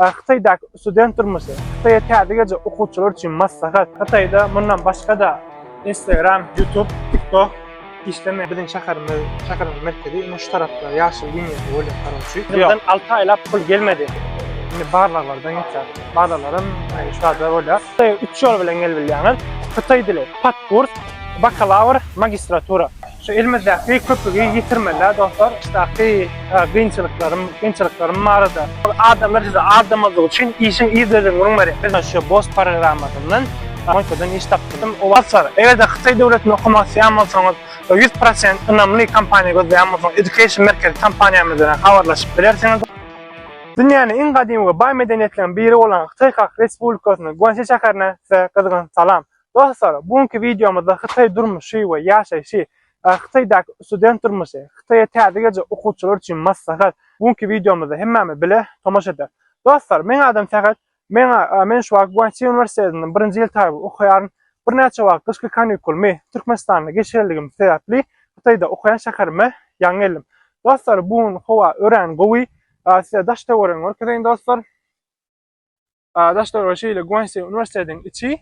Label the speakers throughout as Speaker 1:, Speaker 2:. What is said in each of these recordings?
Speaker 1: Hytaýdaky student durmuşy, Hytaýa täze geljek okuwçylar üçin maslahat. Hytaýda mundan başga-da Instagram, Youtube, TikTok işlemeýär. Biziň şäherimiz, şäherimiziň merkezi ine şu tarapda, ýaşyl liniýada bolýan garawçy. Ýylydan alty aýlap pul gelmedi. Indi barlaglardan geçýär. Barlaglar hem şu barada bolýar. Hytaýa üç ýol bilen gelip bilýäňiz. Hytaý dili, patkurs, bakalawr, magistratura. Şu elimizdäki köpügi ýitirmeli-ä dostlar, içdäki kynçylyklarym, kynçylyklarym barada. Adamlar size aldamazlyk üçin işiň yzlylygyny gürrüň berýär. Biz şu BOSS programmasyndan Moýkadan iş tapdyrdyk. Dostlar, eger-de hytaý döwletinde okamak isleýän bolsaňyz we ýüz prosent ynamly kompaniýa gözleýän bolsaňyz, Education Merkez kompaniýamyz bilen habarlaşyp bilersiňiz. Dünýäniň iň gadymy we baý medeniýetleriň biri bolan Hytaý Halk Respublikasynyň Guansi şäherinden size gyzgyn salam. Dostlar, bu günki wideomyzda Hytaý durmuşy we ýaşaýşy, Hytaýdaky student durmuşy, Hytaýa täze geljek okuwçylar üçin maslahat, bu günki wideomyzda hemmämiz bile tomaşa ederis. Dostlar, meň adam Sähet, men men şu wagt Guançi uniwersitetinde birinji ýyl taýyp okaýaryn. Birnäçe wagt gyşky kanikulumy Türkmenistanda geçirenligim sebäpli Hytaýda okaýan şäherime ýaňy geldim. Dostlar, bu gün howa örän gowy. Size daş-töweregini görkezeýin dostlar. daş döwregi şeýle Guansi uniwersitetiň içi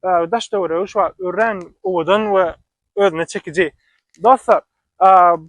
Speaker 1: daş döwregi şu wagt örän owadan we özüne çekiji. Dostlar,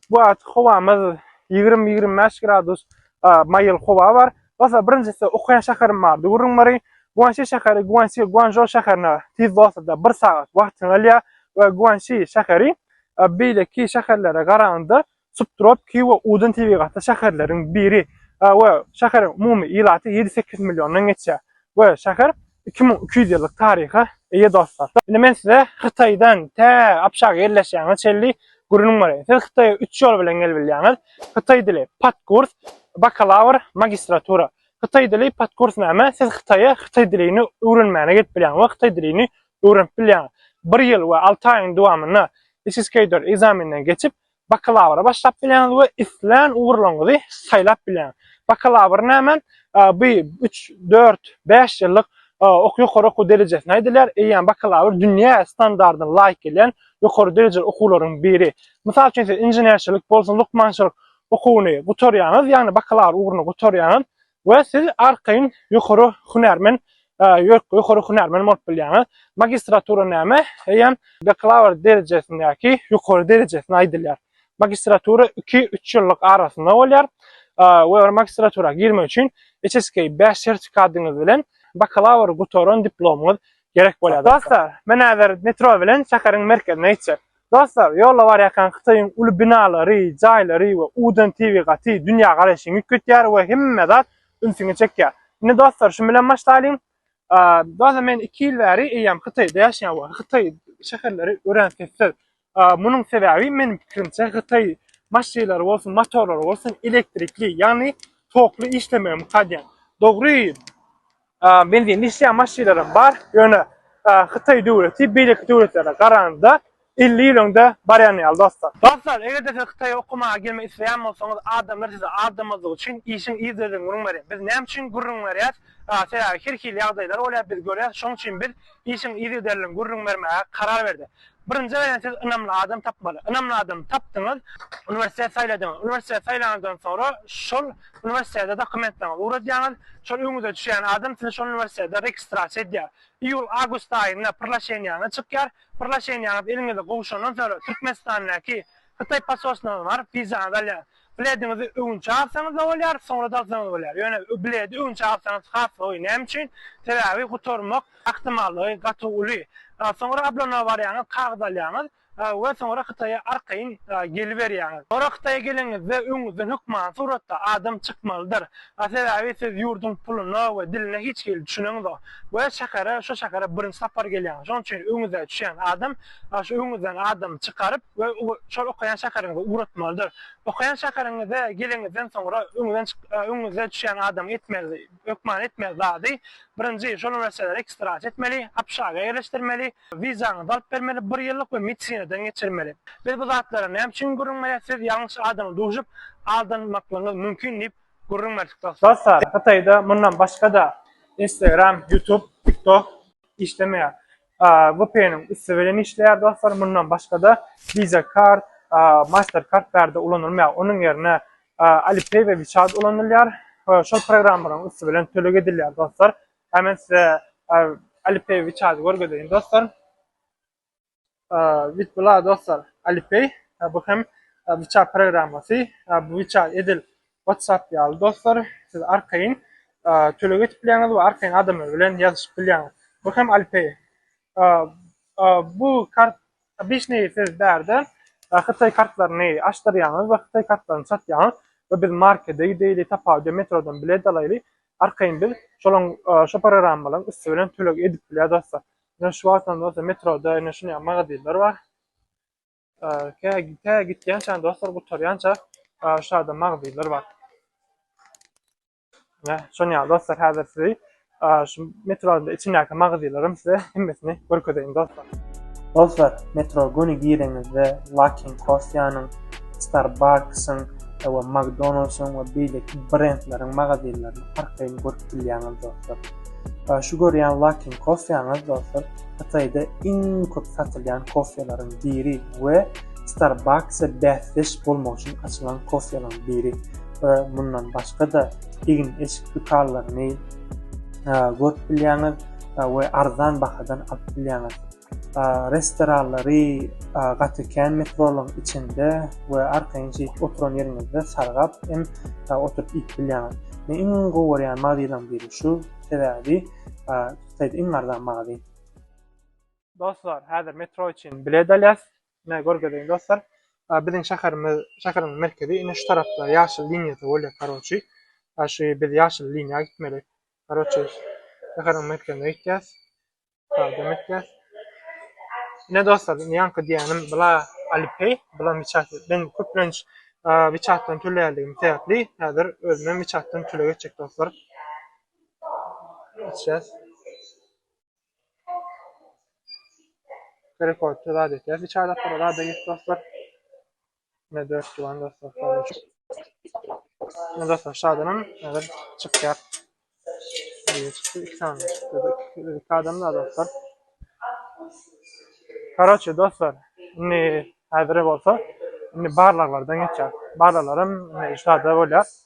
Speaker 1: bu wagt howamyz 20-25 gradus maýyl howa bar. Dostlar, birinjisi okaýan şäherim bardy. Gürrüň bari Guansi şäheri Guansi Guanzhou şäherine tiz dostlar, 1 sagat wagtyňy alýar we Guansi şäheri beýleki şäherlere garanda Subtropiki we uzyn tebigatly şäherleriň biri we şäheriň umumy ilaty ýedi-sekiz milliondan geçýär we şäher iki müň iki ýüz ýyllyk taryha eýe dostlar. Indi men size Hytaýdan tä Abşaga ýerleşýäňize çenli gürrüň bereýin. Siz Hytaýa üç ýol bilen gelip bilýäňiz. Hytaý dili, podkurs, bakalawr, magistratura. Hytaý dili, podkurs näme? Siz Hytaýa hytaý dilini öwrenmäne gelip bilýäňiz we hytaý dilini öwrenip bilýäňiz. Bir ýyl we alty aýyň dowamynda Isiskeýdor ekzameninden geçip, bakalawra başlap bilýäňiz we islän ugurlaryňyzy saýlap bilýäňiz. Bakalawr näme? Bu üç, dört, bäş ýyllyk ok ýokary okuw derejesine aýdylýar. Eýýäm bakalawr dünýä standardyna laýyk gelýän ýokary derejeli okuwlaryň biri. Mysal üçin, siz inženerçilik bolsun, lukmançylyk okuwyny gutarýaňyz, ýagny bakalawr ugruny gutarýaňyz, We siz arkaýyn ýokary hünärmen ýokary hünärmen bolup bilýäňiz. Magistratura näme? Eýýäm bakalawr derejesindäki ýokary derejesine aýdylýar. Magistratura iki, üç ýyllyk arasynda bolýar. We bir magistratura girmek üçin HSK bäş sertifikatyňyz bilen bakalawr gutaran diplomyňyz gerek bolýar. Dostlar, men häzir metro bilen şäheriň merkezine gitjek. Dostlar, ýolda barýarkaň Hytaýyň uly binalary, jaýlary we udan tebigaty dünýä garaýşyňy üýtgetýär we hemme zat ünsüňi çekýär. Indi dostlar, şum bilen başlaýlyň. Dostlar, men iki ýyl bäri eýýäm Hytaýda ýaşaýan we Hytaý şäherleri örän sessiz. Munuň sebäbi meniň pikirimçe Hytaý maşynlary bolsun, motorlary bolsun elektrikli, ýagny tokly işlemegi mukadýan. Dogry, Benzinli işleýän maşynlaram bar, ýöne Hytaý döwleti beýleki döwletlere garanda elli ýyl öňde barýan ýaly dostlar. Dostlar eger-de siz Hytaýa okamaga gelmek isleýän bolsaňyz adamlar sizi aldamazlyk üçin işiň yzlerinden gürrüň beriň. Biz näme üçin gürrüň berýäs? Sebäbi her hili ýagdaýlar bolýar biz görýäs şoň üçin biz işiň yzliderinden gürrüň bermäge karar berdi. Birinji gezek siz ynamly adam tapmaly. Ynamly adamy tapdyňyz, uniwersitet saýladyňyz. Uniwersitet saýlanyňyzdan soňra şol uniwersitete dokumentleriňizi ugradýaňyz. Şol öňüňize düşýän adam sizi şol uniwersitete registrasiýa edýär. Iýul-awgust aýynda proglaşeniýaňyz çykýar. Proglaşeniýaňyz eliňize gowşandan soňra Türkmenistandaky Hytaý posolstwyna baryp wizaňyzy alýaňyz. Blediňizi öwünçä alsaňyz-da bolýar, soňra-da alsaňyz bolýar. Ýöne bledi öwünçä alsaňyz has gowy. Näme üçin? Sebäbi gutarmak ahtimallygy gaty uly. Soňra ablona barýaňyz, kagyz alýaňyz we soňra Hytaýa arkaýyn geliberýäňiz. Soňra Hytaýa geleniňizde öňüňizden hökmany suratda adam çykmalydyr. Sebäbi siz ýurduň puluna we diline hiç hili düşüneňizok we şähere, şu şähere birinji sapar gelýäňiz. Şonuň üçin öňüňize düşýän adam şu öňüňizden adamy çykaryp, we şol okaýan şäheriňize ugratmalydyr. Okaýan şäheriňize geleniňizden soňra öňüňize düşýän adamyň etmeli, hökmany etmeli zady, birinji, şol wracalary ekstradiýa etmeli, APŞAG-a ýerleşdirmeli, wizaňyzy alyp bermeli, bir ýyllyk we medisinadan geçirmeli. Biz bu zatlara näme üçin gürrüň berýäs, siz ýalňyş adama duşup, aldanmaklygyňyz mümkin diýip gürrüň berdik dostlar. Dostlar, Hytaýda mundan başga-da Instagram, Youtube, TikTok işlemeýär. GoPay-nyň üsti bilen işleýär dostlar. Mundan başga-da Visa Card, Mastercard bärde ulanylmaýar. Onuň ýerine Alipay we WeChat ulanylýar. Şol programmalaryň üsti bilen töleg edilýär dostlar. Hä men size Alipay, WeChat-y görgezeýin dostlar. Wit bula dostlar Alipay, bu hem WeChat programmasy. Bu WeChat edil WhatsApp ýaly dostlar, siz arkaýyn töleg edip bilýäňiz we arkaýyn adamlar bilen ýazyşyp bilýäňiz. Bu hem Alipay. Bu kart obişneý siz bärde hytaý kartlaryny açdyrýaňyz we hytaý kartlaryny satýaňyz we biz markede gideýli, tapawuda metrodan bilet alaýly, arkaýyn biz şolaň şo programmalaryň üsti bilen töleg edip bilýäs dostlar. Ine şu wagtam dostlar metroda ine şuny ýaly magazinler bar. Tä gitýänçäň dostlar gutarýança şu ýerde magazynlar bar. Ýa, şony ýa dostlar häzir sizi şu metroda içindäki magazynlarym size hemmesini görkezeýin dostlar. Dostlar, metro göni gireňizde Luckin Coffee-nyň, Starbucks-yň we McDonald's-yň we beýleki brendleriň magazynlaryny arkaýyn görüp bilýäňiz dostlar. Şu görýän Luckin Coffee-ňyz dostlar Hytaýda iň köp satylýan kofelaryň biri we Starbucks-a bäsdeş bolmak üçin açylan kofelaryň biri we mundan başga-da egin-eşik dükanlaryny görüp bilýäňiz we arzan bahadan alyp bilýäňiz. Restoranlary gaty kän metrolaryň içinde we arkaýyn şeýdip oturan ýeriňizde sargap hem oturyp iýip bilýäňiz. Men iň gowy görýän magdylaryň biri şu, sebäbi Saýt iň arzan magazy. Dostlar häzir metro üçin bilet alýas. Ine görgezeýin dostlar. Biziň şäherimiz şäherimiz merkezi ine şu tarapda ýaşyl liniýada bolýar karoçi. Şu biz ýaşyl liniýa gitmeli. Karoçi şäheriň merkezine gitýäs. Sadam etýäs. Ine dostlar indi ýaňky diýenim bula Alipay, bula Miçat. Ben köplenç Miçatdan töleýärdigim sebäpli häzir özümem Miçatdan töleg etjek dostlar. içýäs. Gerek bolupda zat etýäs. Bir çaýlap bir zada git dostlar. Ne dört tuwan dostlar. Ne dostlar şadanam hazır çykýar. Biri çıktı, iki tane çıktı. İki adam da dostlar. Karoçe dostlar, ne hazır bolsa, ne barlarlardan geçer. Barlarlarım ne şada bolýar.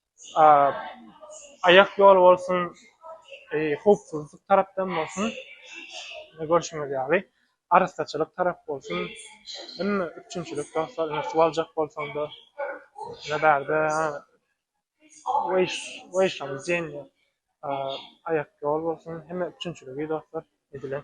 Speaker 1: aýak ýol bolsun, howpsuzlyk tarapdan bolsun, ine görşüňiz ýaly, arassaçylyk tarap bolsun, hemme üpjünçilik dostlar, ine suw aljak bolsaň-da, ine bärde weýiş-weýiş-lam diýen ýer, aýak ýol bolsun, hemme üpjünçiligi dostlar edilen.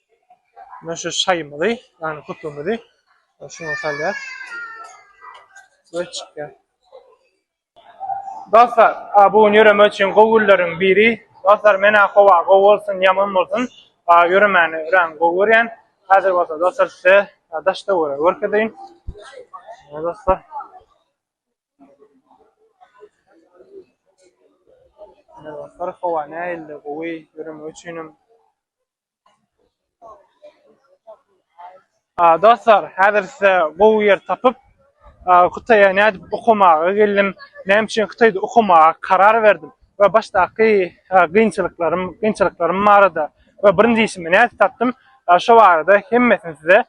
Speaker 1: Men şu şaýymyzy, ýagny köpügimizi şuňa salýas. We çykýar. Dostlar, a bu gün ýöreme üçin gowy günleriň biri. Dostlar, men-ä howa gowy bolsun, ýaman bolsun, ýöremäni örän gowy görýän. Häzir bolsa dostlar size daş töwere görkezeýin. Mine dostlar. Mine dostlar, howa nähili gowy, ýöreme üçin hem Dostlar häzir size gowy ýer tapyp Hytaýa nädip okamaga geldim, näme üçin Hytaýda okamaga karar berdim we başdaky kynçylyklarym, kynçylyklarym barada we birinji işimi nädip tapdym şo barada hemmesini size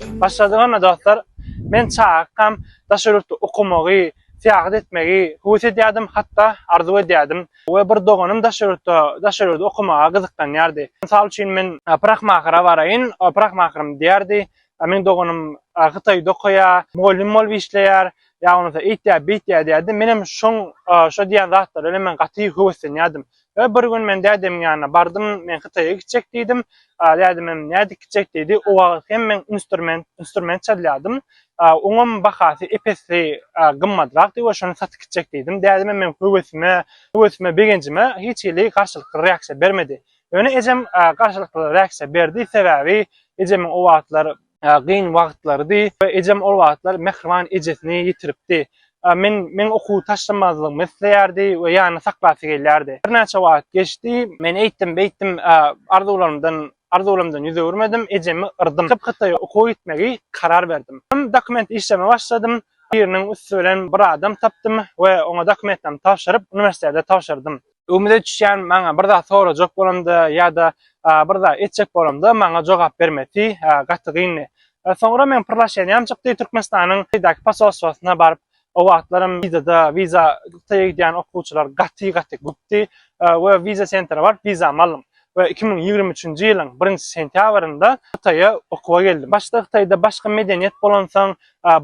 Speaker 2: Başladyk onda
Speaker 1: dostlar. Men çagakam daş ýurtda okamagy, syýahat etmegi höwes edýärdim, hatda arzuw edýärdim we bir doganym daş ýurtda, daş ýurda okamaga gyzyklanýardy. Mysal üçin men Prahmakyra baraýyn, Prahmakrym diýerdi. Meniň doganym Hytaýda okaýar, mugallym bolup işleýär, ýa bolmasa eýtýär, beýtýär diýerdi. Menem şoň, şo diýýän zatlara bilen men gaty höweslenýärdim. We bir gün men dädemiň ýanyna bardym, men Hytaýa gitjek diýdim. Dädem hem nädip gitjek diýdi. O wagt hem men instrument, instrument çalýardym. Oňam bahasy ep-esli gymmadrakdy we şony satyp gitjek diýdim. Dädem hem meň höwesime, höwesime, begenjime hiç hili garşylykly reaksiýa bermedi. Ýöne ejem garşylykly reaksiýa berdi, sebäbi ejemiň o wagtlar gyn wagtlarydy. Ejem ol wagtlar mähriban ejesini ýitiripdi. Men meň okuwy taşlamazlygymy isleýärdi we ýanyna saklasy gelýärdi. Birnäçe wagt geçdi. Men eýtdim, beýtdim arzuwlarymdan arzuwlarymdan ýüz öwürmedim, ejemi yrdym. Köp Hytaýa okuwa gitmegi karar berdim. Dokument işleme başladym. Biriniň üsti bilen bir adam tapdym we oňa dokumentlerimi tabşyryp, uniwersitete tabşyrdym. Umyt etýän maňa bir zat sorajak bolanda ýa-da bir zat etjek bolanda maňa jogap bermesi gaty gyndy. Soňra men pyrlaşýanam çykdy Türkmenistanyň Hydaky posolstwosyna baryp o wagtlaram wizada wiza Hytaýa gidýän okuwçylar gaty gaty köpdi we wiza sentra baryp wizamy aldym. we iki müň ýigrimi üçünji ýylyň birinji sentýabrynda Hytaýa okuwa geldim. Başda Hytaýda başga medeniýet bolansoň,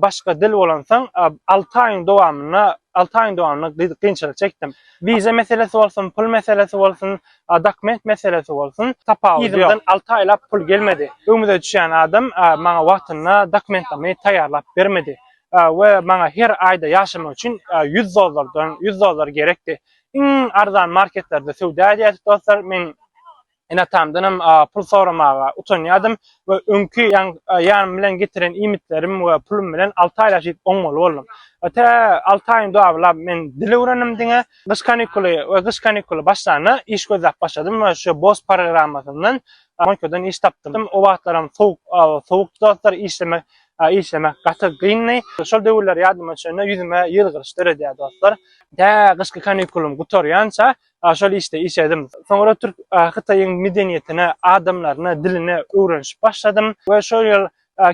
Speaker 1: başga dil bolansoň, alty aýyň dowamynda, alty aýyň dowamynda gyz kynçylyk çekdim. Wiza meselesi bolsun, pul meselesi bolsun, dokument meselesi bolsun, tapawudy ýok. Yzymdan alty aýlap pul gelmedi. Öňüme düşýän adam maňa wagtynda dokumentlamy taýýarlap bermedi we maňa her aýda ýaşamak üçin ýüz dollardan, ýüz dollar gerekdi. iň arzan marketlerde söwda edýärdik dostlar. Men ene-atamdanam pul soramaga utanýardym we öňki ýanym bilen getiren iýmitlerim we pulum bilen alty aý ýaşaýyp oňmaly boldum. Tä alty aýyň dowamlap men dil öwrendim diňe. Gyş kanikuly we gyş kanikuly başlanda iş gözläp başladym we şu BOSS programmasyndan Monikodan iş tapdym. O wagtlaram sowuk sowukdy dostlar, işlemek A işlemek gaty gyndy. Şol döwürler ýadyma düşende ýüzüme ýylgyryş döredýär dostlar. Tä gyşky kanikulym gutarýança şol işde işledim. Soňra türk Hytaýyň medeniýetine, adamlaryna, diline öwrenişip başladym we şol ýyl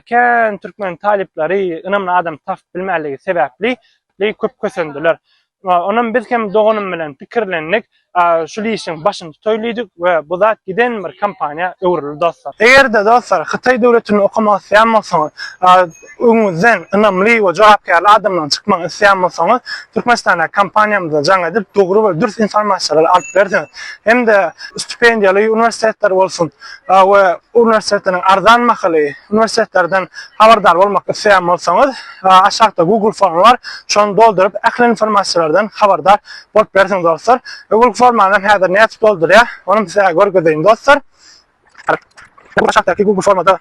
Speaker 1: kän türkmen talyplary ynamly adam tapyp bilmänligi sebäpli köp kösendiler. Onam biz hem doganym bilen pikirlendik, şul işiň başyny tutaýly diýdik we bu zat giden bir kompaniýa öwrüldi dostlar. Eger-de dostlar Hytaý döwletinde okamak isleýän bolsaňyz, öňüňizden ynamly we jogapkärli adamlaryň çykmagyny isleýän bolsaňyz, Türkmenistandaky kompaniýamyzda jaň edip, dogry we dürs informasiýalary alyp bilersiňiz. Hem-de stipendiýaly uniwersitetler bolsun we uniwersitetleriň arzan bahaly uniwersitetlerden habardar bolmak isleýän bolsaňyz, Aşakda Google formy bar. Şony dolduryp, ähli informasiýalardan habardar bolup bilersiňiz dostlar. Google formany häzir nädip doldurýar, onam sizä görkezeýin dostlar. Aşakdaky Google formada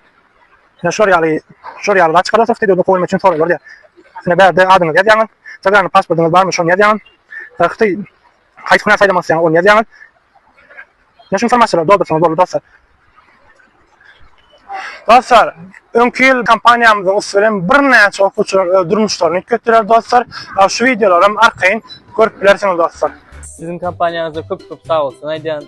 Speaker 1: şular ýaly, şular ýaly zat çykarýar, Hytaý döwletine gowulanmak üçin soraglar diýýär. Ine bärde adyňyzy ýazýaňyz, çagaň pasportyňyz barmy, şony ýazýaňyz. Hytaý Haýsy hünär saýlamak isleýäňiz, ony ýazýaňyz. Ýene şu informasiýalary doldursaňyz boldy dostlar. Dostlar, öňki ýyl kompaniýamyzyň üsti bilen birnäçe okuwçylar öz durmuşlaryny üýtgetdiler dostlar. Şu wideolaram arkaýyn görüp bilersiňiz dostlar. Siziň kompaniýaňyza
Speaker 3: köp-köp sag bolsun aýdýan.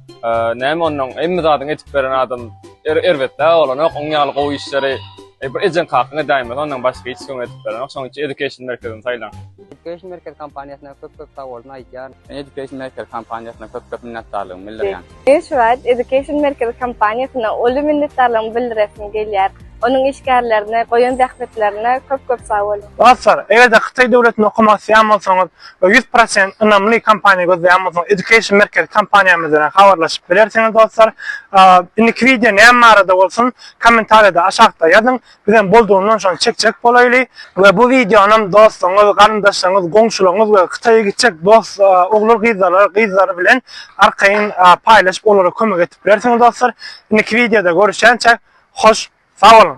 Speaker 4: Näme ondan hemme zadyň edip beren adam er erbetdä bolanok. Oň ýaly gowy işleri e, bir ejeň kakyň edäýmez. Ondan başga hiç kim edip berenok. Şoň üçin Education merkezini saýlaň. Education merkez
Speaker 5: kompaniýasyna köp-köp sag bolsun aýdýan. Men Education merkez kompaniýasyna köp-köp minnetdarlygymy bildirýän. Men şu wagt Education
Speaker 6: merkez kompaniýasyna uly minnetdarlygymy bildiresim gelýär. Onuň işgärlerine goýan zähmetlerine köp-köp sag bolsun. Dostlar, eger-de Hytaý
Speaker 1: döwletinde okamak isleýän bolsaňyz, we ýüz prosent ynamly kompaniýa gözleýänmiziň education merkezi kompaniýamyz bilen habarlaşyp bilersiňiz dostlar indiki wideo näme barada bolsun kommentariýada aşakda ýazyň biz hem boldugyndan şony çekjek bolaýly we bu wideonam dostlaryňyz garyndaşlaryňyz goňşularyňyz we hytaýa gitjek dost ogul gyzlara gyzlary bilen arkaýyn paýlaşyp olara kömek edip bilersiňiz dostlar indiki wideoda görüşýänçä hoş sag boluň.